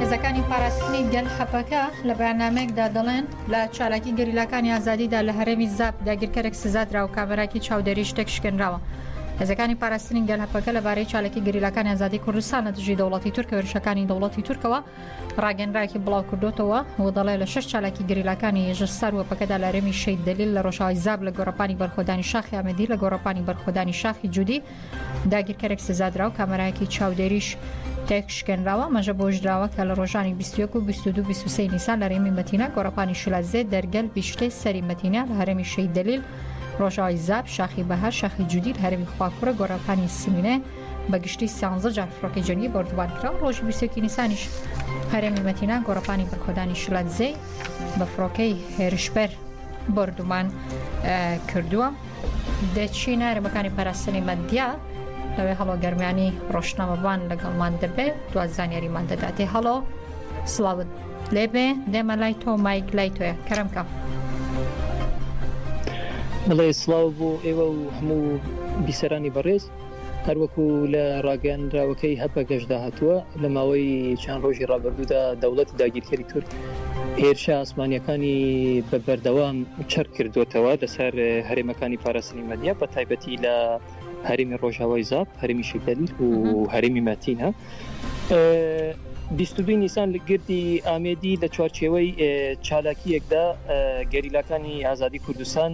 هێزەکانی پاراستنی گەل حەپەکە لە بەیاننامەیەکدا دەڵێن لە چالاکی گەریلاکانی ئازادیدا لە هەرێمی زاپ داگیرکەرێک سزادرا و کامێراکی چاودێری شتێک شکێنراوە. هێزەکانی پاراستنی گەل هەپەکە لەبارەی چالاکی گەریلاکانی ئازادی کوردستان لە دژی دەوڵەتی تورک وێرشەکانی دەوڵەتی تورکەوە ڕاگەنراکی بڵاو کردوتەوە و دەڵێ لە شش چالاکی گەریلاکانی ێژە سار وەپەکەدا لە رێمی شەید دلیل لە ڕۆژاوای زاب لە گۆڕپانی بەرخۆدانی شاخی ئامەدی لە گۆڕپانی بەرخۆدانی شاخی جودی داگیرکەرێک سزادراو کامەرایەکی چاودێریش تێکشکێنراوە مەژە بۆش دراوە کە لە ڕۆژانی 21 و 22 23 نیسان لە رێمی مەتینا گۆڕەپانی شلازێ دەرگەل بیشتەی سەری مەتینا لە هەرمی شەی دەلیل ڕۆژاوی زاب شاخی بەها شاخی جودی هەرمی خواکوڕە گۆڕەپانی سمینێ بە گشتی سانزە جار فڕۆکی جەنگی بردوبار کرا ڕۆژ 20 نیسانیش هەرێمی مەتینا گۆڕەپانی بەرخۆدانی شلادزەی بە فڕۆکەی هێرشبەر بردومان کردووە. دەچینە هەرێمەکانی پاراستنی مەدیا لەوێ هەڵۆ گەرمیانی ڕۆشنامەبان لەگەڵمان دەبێت دو زانیاریمان دەداتێ هەڵۆ سلااوت لێبێ دێمە لای تۆ مایک لای تۆە کەرمکە. بڵێ سلااو بۆ ئێوە و هەموو بیسەرانی بەڕێز هەروەکو لە ڕاگەیاندراوەکەی هەپەگەشدا هاتووە، لە ماوەی چەند ڕۆژی ڕابردوودا دەوڵەتی داگیرکەری تورک هێرشە ئاسمانییەکانی بە بەردەوام چڕ کردووەتەوە لەسەر هەرێمەکانی پاراستنی مەدیا بە تایبەتی لە هەرێمی ڕۆژاوای زاپ، هەرێمی شیتەل و هەرێمی مەتینە. بیست و دووی نیسان لە گردی ئامێدی لە چوارچێوەی چالاکییەکدا گەریلاکانی ئازادی کوردستان،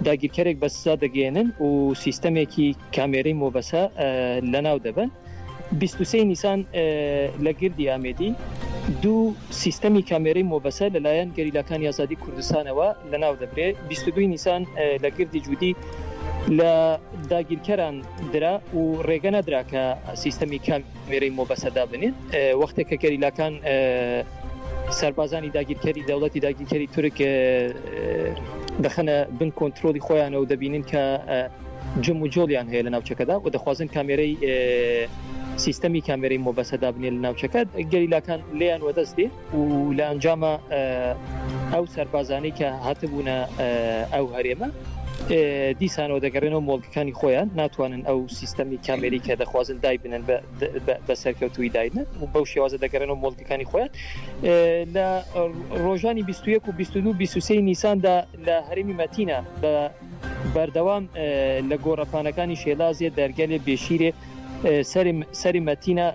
داگیرکەرێک بە سزا دەگەیەنن و سیستەمێکی کامێرەی مۆبەسە لەناو دەبن. 23 نیسان لە گردی ئامێدی دوو سیستەمی کامێرەی مۆبەسە لەلایەن گەریلاکانی ئازادی کوردستانەوە لەناو دەبرێ 22 نیسان لە گردی جودی لە داگیرکەران درا و ڕێگە نەدرا کە سیستەمی کام وێرەی مۆبەسە دابنێن وەختێک کە گەریلاکان سەربازانی داگیرکەری دەوڵەتی داگیرکەری تورک دەخەنە بن کۆنتترۆلی خۆیانەوە دەبینن کە جم و جۆڵیان هەیە لە ناوچەکەدا و دەخوازن کامێرەی سیستەمی کامێرەی مۆبەسەدا بنێن لە ناوچەکە گەریلاکان لیان وەدەستێ و لە ئەنجامە ئەو سەربازانەی کە هاتبوونە ئەو هەرێمە دیسانەوە دەگەڕێنەوە مۆڵکەکانی خۆیان ناتوانن ئەو سیستەمی کامێری کە دەخوازن دای بنن بە سەرکەوتوی داینە و بەو شێوازە دەگەڕێنەوە مۆڵکەکانی خۆیان لە ڕۆژانی 21 و 22 نیساندا لە هەرمی مەتینە بە بەردەوام لە گۆڕەپانەکانی شێلازێ دەرگەلێ بێشیرێ سەری مەتینە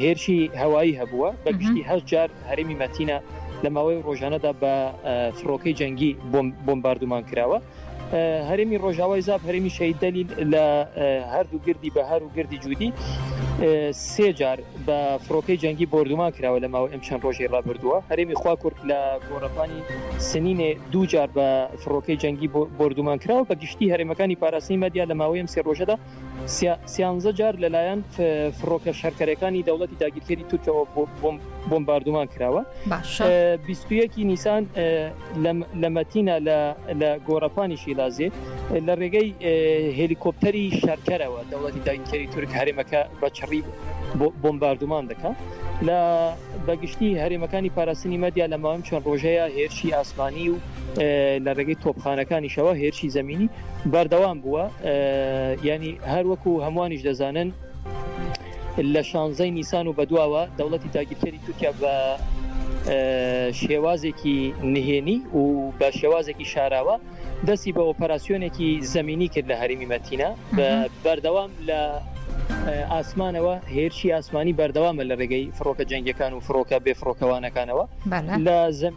هێرشی هەوایی هەبووە بە گشتی هەش جار هەرمی مەتینە لە ماوەی ڕۆژانەدا بە فڕۆکەی جەنگی بۆمباردومان کراوە هەرمی ڕۆژاوای زاب هەرمی شەید دەلیل لە هەردوو گردی بەهار و گردی جوودی سێ جار بە فڕۆکەی جەنگی بردومان کراوە لە ماوە ئەم چەند ڕۆژی ڕابردووە هەرمی خوا کورد لە گۆڕەپانی سنینێ دوو جار بە فڕۆکەی جەنگی بۆردومانکراو بە گشتی هەرێمەکانی پاراستنی مەدیا لە ماوەی ئەم سێ ڕۆژەدا سیانزە جار لەلایەن فڕۆکە شەرکەرەکانی دەوڵەتی داگیرکەری تورکەوە بۆمباردومان کراوە بیستویەکی نیسان لە مەتینە لە گۆڕەپانی شیلازێ لە ڕێگەی هلیکۆپتەری شەرکەرەوە دەوڵەتی داگیرکەری تورک هەرێمەکە بە چڕی بۆمباردومان دەکات لە بەگشتی هەرێمەکانی پاراستنی مەدیا لە ماوەم چەند ڕۆژەیە هێرشی ئاسمانی و لە ڕێگەی تۆپخانەکانیشەوە هێرشی زمینی بەردەوام بووە ینی هەروەکو هەمووانیش دەزانن لە شانزەی نیسان و بەدواوە دەوڵەتی تاگیرکەری تورکیا بە شێوازێکی نهێنی و بە شێوازێکی شاراوە دەستی بە ئۆپەراسسیۆنێکی زمینی کرد لە هەرمی مەتینە بەردەوام لە ئاسمانەوە هێرشی ئاسمانی بەردەوامە لە ڕێگەی فڕۆکە جەنگەکان و فڕۆکە بێ فڕۆکەوانەکانەوە لە زم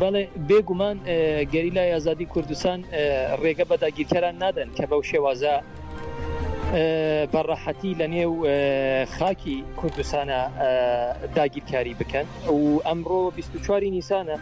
بەڵێ بێ گومان گەریلای ئازادی کوردستان ڕێگە بە داگیرکەران نادەن کە بەو شێوازە بەڕەحەتی لە نێو خاکی کوردستانە داگیرکاری بکەن و ئەمڕۆ 24 نیسانە.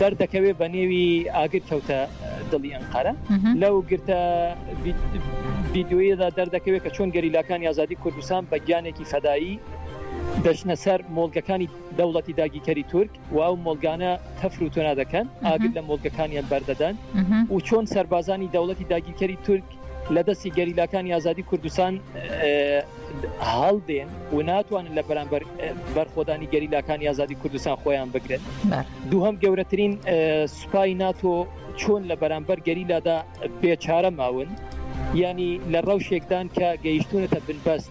دەردەکەوێ بە نێوی ئاگر کەوتە دڵی ئەنقەرە لەو گرتە ڤیددیویەدا دەردەکەوێت کە چۆن گەریلاکانی ئازادی کوردستان بە گیانێکی فەدایی دەچنە سەر مۆڵگەکانی دەوڵەتی داگیکەری تورک و ئەو مۆلگانە تەفر و تۆنا دەکەن ئاگر لە مۆلگەکانیان بەردەدەن و چۆن سەربازانی دەوڵەتی داگیرکەری تورک دەکرێت. لە دەستی گەریلاکانی ئازادی کوردستان هەڵدێن و ناتوانن لە بەرامبەر بەرخۆدانی گەریلاکانی ئازادی کوردستان خۆیان بگرن دووهم گەورەترین سوپای ناتۆ چۆن لە بەرامبەر گەریلادا بێچارە ماون ینی لە ڕەوشێکدان کە گەیشتونەتە بنبەست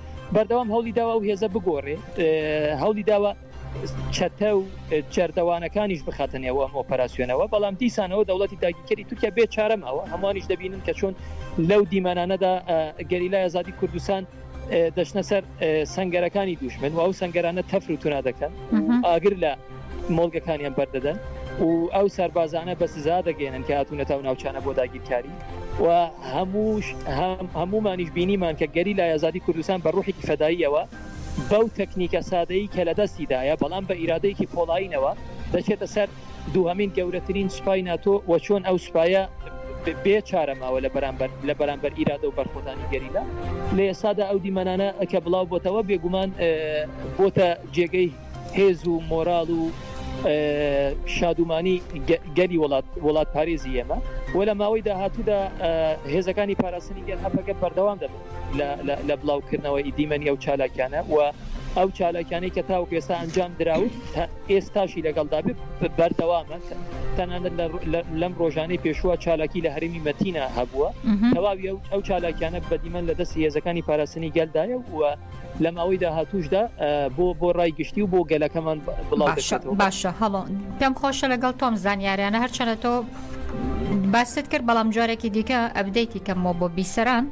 بەردەوام هەوڵی داوە ئەو هێزە بگۆڕێ هەوڵی داوە چەتە و جەردەوانەکانیش بخاتە نێوە ئەم ئۆپەراسسیۆنەوە بەڵام دیسانەوە دەوڵەتی داگیکەری تورکیا بێ چارەماوە هەمووانیش دەبینن کە چۆن لەو دیمانانەدا گەریلای ئازادی کوردستان دەشنە سەر سنگەرەکانی دوشمن و ئەو سنگەرانە تەفر و تونا دەکەن ئاگر لە مۆڵگەکانیان بەردەدەن و ئەو سەربازانە بە سزا دەگەێنن کە هاتوونەتە و ناوچانە بۆ داگیرکاری و هەمووش هەمومانیش بینیمان کە گەری لای ئازادی کوردستان بە ڕوحێکی فەداییەوە بەو تەکنیکە سادەیی کە لە دەستیدایە بەڵام بە ئیرادەیەکی پۆڵایینەوە دەچێتە سەر دووهمین گەورەترین سوپای ناتۆ و چۆن ئەو سوپایە بێ چارەماوە لە بەرامبەر لە بەرامبەر ئیرادە و بەرخۆدانی گەریلا لە ئێستادا ئەو دیمەنانە کە بڵاو بۆتەوە بێگومان بۆتە جێگەی هێز و مۆراڵ و شادومانی گەلی وڵات وڵات پارێزی ئێمە و لە ماوەی داهاتوودا هێزەکانی پاراستنی گەل هەپەکە بەردەوام دەبن لە بڵاوکردنەوەی دیمەنی ئەو چالاکیانە و ئەو چالاکیانەی کە تاوەکو ئێستا ئەنجام دراوت ئێستاشی لەگەڵدا بەردەوامە تەنانەت لەم ڕۆژانەی پێشووە چالاکی لە هەرمی مەتینا هەبووە تەواوی ئەو چالاکیانە بەدیمەن لە دەستی هێزەکانی پاراستنی گەلدایە و لە ماوەی داهاتووشدا بۆ بۆ ڕای گشتی و بۆ گەلەکەمان باشە هەڵۆ پێم خۆشە لەگەڵ تۆم زانیاریانە هەرچەنە تۆ باست کرد بەڵام جارێکی دیکە ئەبدەیتی کەمەوە بۆ بیسەران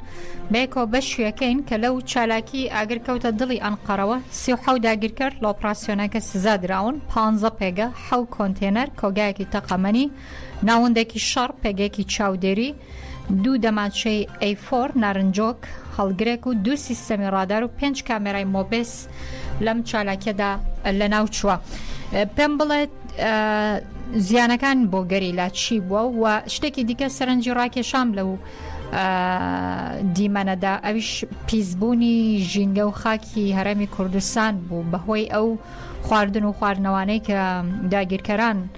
بێکۆ بە شوێکەین کە لەو چالاکی ئاگر کەوتە دڵی ئەنقەرەوە سی و حەو داگیرکەر لە ئۆپراسسیۆنەکە سزا دراون پ پێگە حەو کۆنتێنەر کۆگایەکی تەقەمەنی ناوەندێکی شەڕ پێگەێکی چاودێری دوو دەمانچەی ئەی فۆر نارنجۆک، هەڵگرێک و دوو سیستەمی ڕادار و پێنج کامێرای مۆبێس لەم چالاکیەدا لەناوچووە. پێم بڵێت زیانەکان بۆ گەریلا چی بووە و شتێکی دیکە سەرنجی ڕاکێشام لەو دیمەنەدا ئەویش پیسبوونی ژینگە و خاکی هەرێمی کوردستان بوو بەهۆی ئەو خواردن و خواردنەوانەی کە داگیرکەران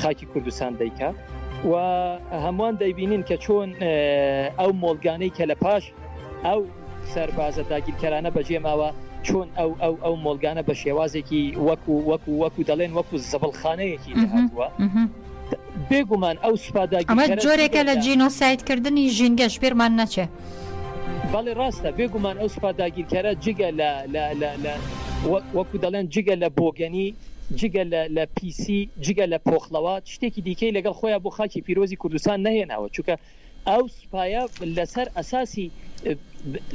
خاکی کوردستان دەیکات و هەمووان دەیبینین کە چۆن ئەو مۆلگانەی کە لە پاش ئەو سەربازە داگیرکەرانە بەجێ ماوە چۆن ئەو ئەو ئەو مۆلگانە بە شێوازێکی وەکو وەکو وەکو دەڵێن وەکو زەبڵخانەیەکی هاتووە بێگومان ئەو سوپاداگەمە جۆرێکە لە جینۆسایدکردنی ژینگەش پێرمان نەچێ. بەڵی ڕاستە بێگومان ئەو سوپا داگیرکەرە جگە لە لە وەکو دەڵێن جگە لە بۆگەنی جگە لە لە پیسی جگە لە پۆخڵەوە شتێکی دیکەی لەگەڵ خۆیان بۆ خاکی پیرۆزی کوردستان نەهێناوە چونکە ئەو سوپایە لەسەر ئەساسی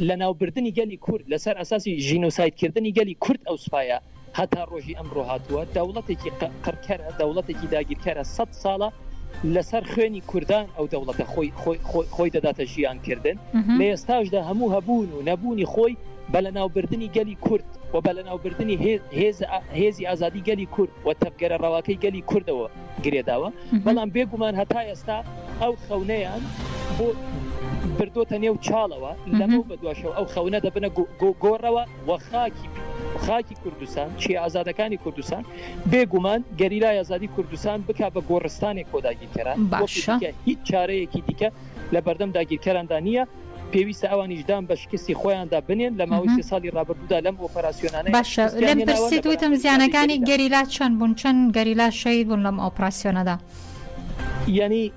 لەناوبردنی گەلی کورد لەسەر ئەساسی ژینۆسایدکردنی گەلی کورد ئەو سوپایە هەتا ڕۆژی ئەمڕۆ هاتووە دەوڵەتێکی قڕکەرە دەوڵەتێکی داگیرکەرە سەد ساڵە لەسەر خوێنی کوردان ئەو دەوڵەتە خۆی خۆی دەداتە ژیان کردن لە ئێستاشدا هەموو هەبوون و نەبوونی خۆی بە لەناوبردننی گەلی کورد و بە لەناوبردننی هێزی ئازادی گەلی کورد و تەبگەرە ڕەواکەی گەلی کوردەوە گرێداوە بەڵام بێگومان هەتا ئێستا ئەو خەونەیان بۆ بردوتە نێو چاڵەوە لەمە بە دواشەوە ئەو خەونە دەبنە گۆڕەوە و خاکی خاکی کوردستان چیە ئازادەکانی کوردستان بێ گومان گەریلای ئازادی کوردستان بک بە گۆڕستانی کۆداگیرکەران باشە هیچ چارەیەکی دیکە لە بەردەم داگیرکەراندا نییە پێویستە ئەوانیشدان بە شکستی خۆیاندا بنێن لە ماوەی سێ ساڵی ڕابردوودا لەم ئۆپەراسسیۆنانە باشە لەم پرسی دوتم زیانەکانی گەریلا چەند بوون چەند گەریلا شەید بوون لەم ئۆپراسسیۆنەدا یعنی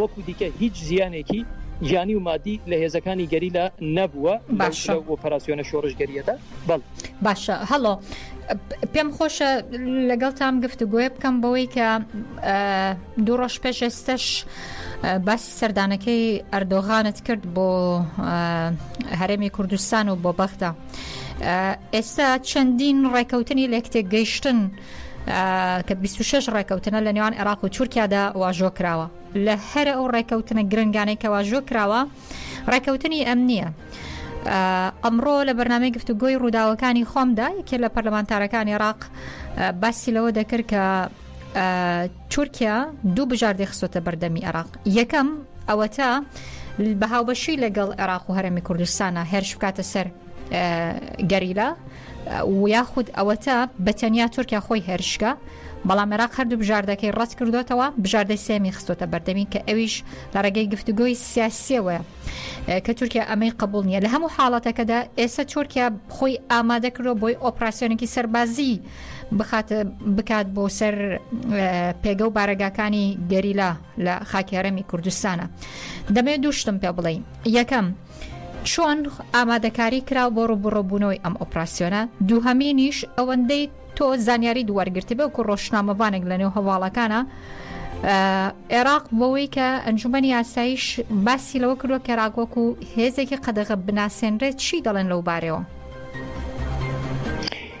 وەکو دیکە هیچ زیانێکی گیانی و مادی لە هێزەکانی گەریلا نەبووە باشە لەو ئۆپەراسیۆنە شۆڕشگەریەدا بەڵ باشە هەڵۆ پێم خۆشە لەگەڵ تام گفتوگوۆە بکەم بەوەی کە دوو ڕۆژ پێش ئێستش باسی سەردانەکەی ئەردۆغانت کرد بۆ هەرێمی کوردستان و بۆ بەغدا ئێستا چەندین ڕێکەوتنی لەکتێک گەیشتن کە بیست و شەش ڕێکەوتنە لە نێوان عێراق و تورکیادا واژۆ کراوە لە هەرە ئەو ڕێکەوتنە گرنگانەی کە واژۆ کراوە ڕێکەوتنی ئەم نییە. ئەمڕۆ لە بەرنمەی گفتوگۆی ڕووداوەکانی خۆمدا یەکێ لە پەرلەمانتارەکان عێراق باسی لەوە دەکرد کە تورکیا دوو بژاردەی خستۆتە بەردەمی عێراق یەکەم ئەوەتا بەهاوبەشی لەگەڵ عێراق و هەرمی کوردستانە هێرش بکاتە سەر گەریلا یاخود ئەوەتا بە تەنیا تورکیا خۆی هێرشکە بەڵام عێراق هەردوو بژاردەکەی ڕەت کردوتەوە بژاردەی سێمی خستۆتە بەردەمی کە ئەویش لە ڕێگەی گفتوگۆی سیاسیەوە کە تورکیا ئەمەی قبول نییە لە هەموو حاڵەتەکەدا ئێستا تورکیا خۆی ئامادە کردو بۆی ئۆپراسسیۆنێکی سەربازی بخات بکات بۆ سەر پێگە و بارەگاکانی گەریلا لە خاکی هەرێمی کوردستانە دەمێ دوو شتم پێ بڵێین یەکەم چۆن ئامادەکاری کراو بۆ ڕوبڕۆبوونەوەی ئەم ئۆپراسسیۆنە دووهەمینیش ئەوەندەی تۆ زانیاری دووەرگرتی بە کو ڕۆشنامەوانێک لە نێو هەواڵەکانە عێراق بەوەی کە ئەنجومی یاسایش باسی لەوە کردوە کەراگۆک و هێزێکی قەدەغە بناسێنرێت چی دەڵێن لەو بارەوە.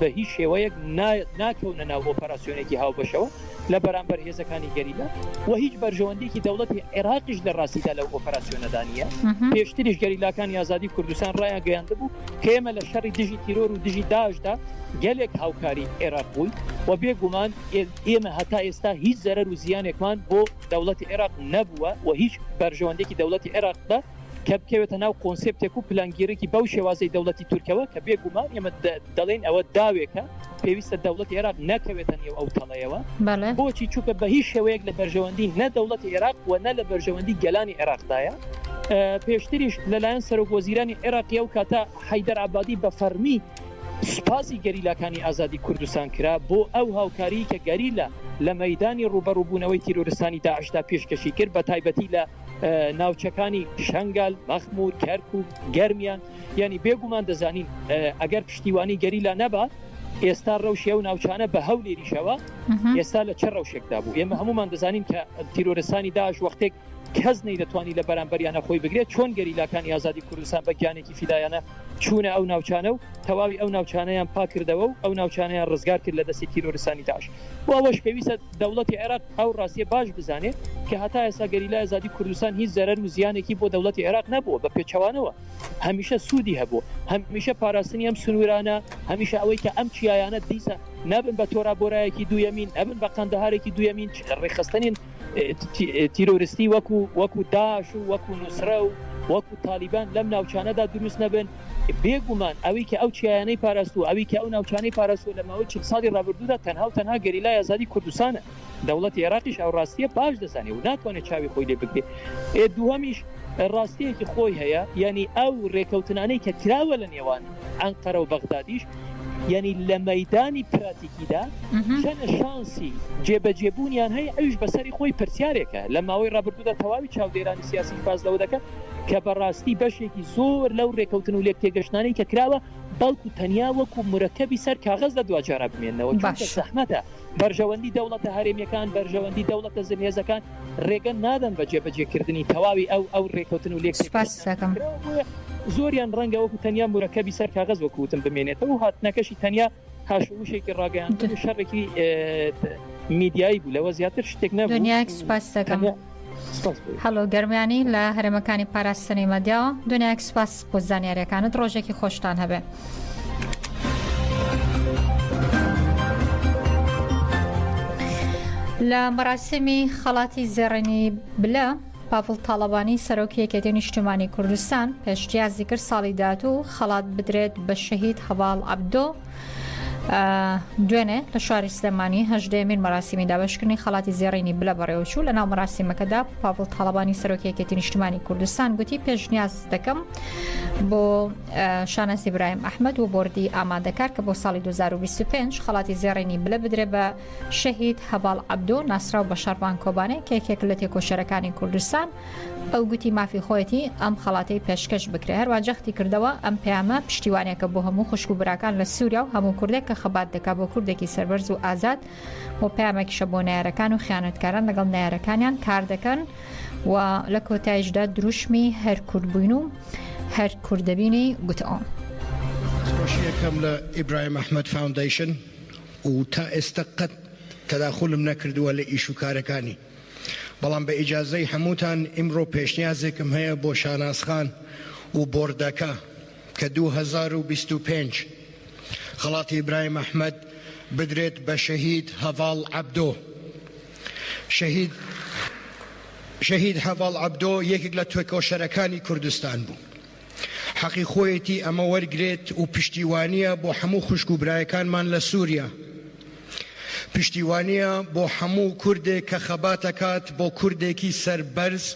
بە هیچ شێوەیەک ناکەونە ناو ئۆپەراسیۆنێکی هاوبەشەوە لە بەرامبەر هێزەکانی گەریلا و هیچ بەرژەوەندیکی دەوڵەتی عێراقیش لە ڕاستیدا لەو ئۆپەراسیۆنەدا نیە پێشتریش گەریلاکانی ئازادی کوردستان ڕایان گەیاندبوو کە ئێمە لە شەڕی دژی تیرۆر و دژی داشدا گەلێک هاوکاری عێراق بووین و بێگومان ئێمە هەتا ئێستا هیچ زەرەر و زیانێکمان بۆ دەوڵەتی عێراق نەبووە و هیچ بەرژەوەندێکی دەوڵەتی عێراقدا کە بکەوێتە ناو کۆنسێپتێک و پلانگێریی بەو شێوازەی دەوڵەتی تورکەوە، کە بێ گومان ئێمە دەڵێین ئەوە داوێکە، پێویستە دەوڵەتی عێراق نەکەوێتە نێو ئەو تەڵەیەوە. بۆچی؟ چونکە بە هیچ شێوەیەک لە بەرژەوەندیی نە دەوڵەتی عێراق و نە لە بەرژەوەندیی گەلانی عێراقدایە. پێشتریش لە لایەن سەرۆک وەزیرانی عێراقی ئەو کاتە حەیدەر عەبادی بە فەڕمی سوپاسی گەریلاکانی ئازادی کوردستان کرا بۆ ئەو هاوکاریی کە گەریلا لە مەیدانی ڕووبەڕووبوونەوەی تیرۆرستانی داعشدا پێشکەشی کرد بە تایبەتی لە ناوچەکانی شەنگال مەخمور کەرک و گەرمیان یعنی بێگومان دەزانین ئەگەر پشتیوانی گەریلا نەبا ئێستا ڕەوشی و ناوچانە بە هەو لێریشەوە ئێستا لە چ ڕەوشێکدا بوو ئێمە هەمومان دەزانین کە تیرۆرستانی داش وەختێک کەس نەی دەتوانانی لە بەرامبەریانە خۆی بگرێت چۆن گەریلاکانی ئازادی کوردستان بە گیانێکی فیدایانە چوونە ئەو ناوچانە و تەواوی ئەو ناوچانیان پاکردەوە و ئەو ناوچانیان ڕزگار کرد لە دەستی تیرۆرستانی داش و ئەوەش پێویستە دەوڵەتی عێراق ئەو ڕاستیە باش بزانێت کە هەتا ئێستا گەریلای ئازادی کوردستان هیچ زەرەر و زیانێکی بۆ دەوڵەتی عێراق نەبووە بە پێچەوانەوە هەمیشە سوودی هەبووە هەمیشە پاراستنی ئەم سنوورانە هەمیشە ئەوەی کە ئەم چیایانە دیسە نەبن بە تۆرابۆرایەکی دوویەمین نەبن بە قەندەهارێکی دوویەمین ڕێخستنین تیرۆرستی وەکو وەکو داش و وەکو نووسرە و وەکو تالیبان لەم ناوچانەدا دروست نەبن بێ گومان ئەوی کە ئەو چیایانەی پاراستووە، ئەوی کە ئەو ناوچانەی پاراستووە لە ماوەی چل ساڵی ڕابردوودا تەنها و تەنها گەریلای ئازادی کوردستانە. دەوڵەتی ئێراقیش ئەو ڕاستییە باش دەزانێ و ناتوانێ چاوی خۆی لێ بگرێ. ئێ دووهەمیش ڕاستییەکی خۆی هەیە، یانی ئەو ڕێکەوتنانەی کە کراوە لە نێوان ئەنقەرە و بەغدادیش یانی لە مەیدانی پراتیکیدا چەنە شانسی جێبەجێبوونیان هەیە ئەویش بە سەری خۆی پرسیارێکە. لە ماوەی ڕابردوودا تەواوی چاودێرانی سیاسیش باس لەوە دەکەن، کە بەڕاستی بەشێکی زۆر لەو رێکەوتن و لێکتێگەشتنانەی کە کراوە بەڵکو تەنیا وەکو مورەکەبی سەر کاغەز لە دواجارا بمێننەوە، چونکە باشە. زەحمەتە بەرژەوەندی دەوڵەتە هەرێمیەکان، بەرژەوەندی دەوڵەتە زلهێزەکان رێگە نادەن بە جێبەجێکردنی تەواوی ئەو ئەو رێکەوتن و سوپاست لێکتێگەشتنانەی کە دەکەم. کراوە، بۆیە زۆریان رەنگە وەکو تەنیا مورەکەبی سەر کاغەز وەکو وتم بمێنێتەوە و هاتنەکەشی تەنیا هاشم وشێکی ڕاگەیاندن و شەڕێکی میدیایی بوو لەوە زیاتر شتێک نە دنیاک سوپاس دەکەم هەڵۆ گەرمیانی لە هەرمەکانی پاراستنی مەدیاوە دنیاک سوپاس بۆ زانیارەکانت ڕۆژێکی خۆشتان هەبێ. لە مەراسمی خەڵاتی زێڕێنی بلە پاڤڵ تاڵەبانی، سەرۆکی یەکێتی نیشتیمانی کوردستان پێشنیازی کرد ساڵی داهاتوو خەڵات بدرێت بە شەهید هەڤاڵ عەبدۆ. دوێنێ لە شاری سلێمانی هەژدەیەمین مەراسیمی دابشکردنی خەڵاتی زێڕینی بلە بەڕێوەچوو لە ناو مەراسیمەکەدا پاڤڵ تاڵەبانی سەرۆکی یەکێتی نیشتیمانی کوردستان گوتی پێشنیاز دەکەم بۆ شانەزی برایم ئەحمد و بردی ئامادەکار کە بۆ ساڵی 2025 خەڵاتی زێڕینی بلە بدرێ بە شەهید هەڤاڵ عەبدۆ ناسراو بە شەڕڤان کۆبانێ کە یەکێکە لە تێکۆشەرەکانی کوردستان ئەو گوتی مافی خۆیەتی ئەم خەڵاتەی پێشکەش بکرێ هەروە جەختی کردەوە ئەم پەیامە پشتیوانێکە بۆ هەموو خوشک و براکان لە سووریا و هەموو کوردێک کە خەبات دەکا بۆ کوردێکی سەربەرز و ئازاد و پامێکیشە بۆ نارەکان و خیانەتکاران لەگەڵ نارەکانیان کار دەکەن و لە کۆتایشدا دروشمی هەر کورد بووین و هەر کوردبینی گوتەوە. خۆشیەکەم لە ئیبراهیم ئەحمەد فاوندەیشن و تا ئێستا قەت تەداخولم نەکردووە لە ئیش و کارەکانی بەڵام بە ئیجازەی هەمووتان ئیمڕۆ پێشنیازێکم هەیە بۆ شاناز خان و بۆردەکە کە دوو هەزار و بیست و پێنج خەڵاتی ئیبراهیم ئەحمەد بدرێت بە شەهید هەڤاڵ عەبدۆ شەهید شەهید هەڤاڵ عەبدۆ یەکێک لە تێکۆشەرەکانی کوردستان بوو حەقی خۆیەتی ئەمە وەرگرێت و پشتیوانییە بۆ هەموو خوشک و برایەکانمان لە سووریا. پشتیوانییە بۆ هەموو کوردێک کە خەبات ئەکات بۆ کوردێکی سەربەرز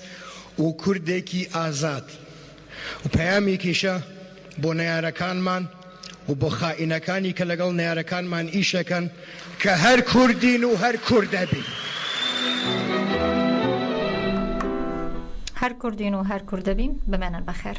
و کوردێکی ئازاد و پەیامێکیشە بۆ نەیارەکانمان، و بۆ خائینەکانی کە لەگەڵ نەیارەکانمان ئیشەکەن کە هەر کوردین و هەر کوردەبین. هەر کوردین و هەر کوردەبین بمێنن بەخێر.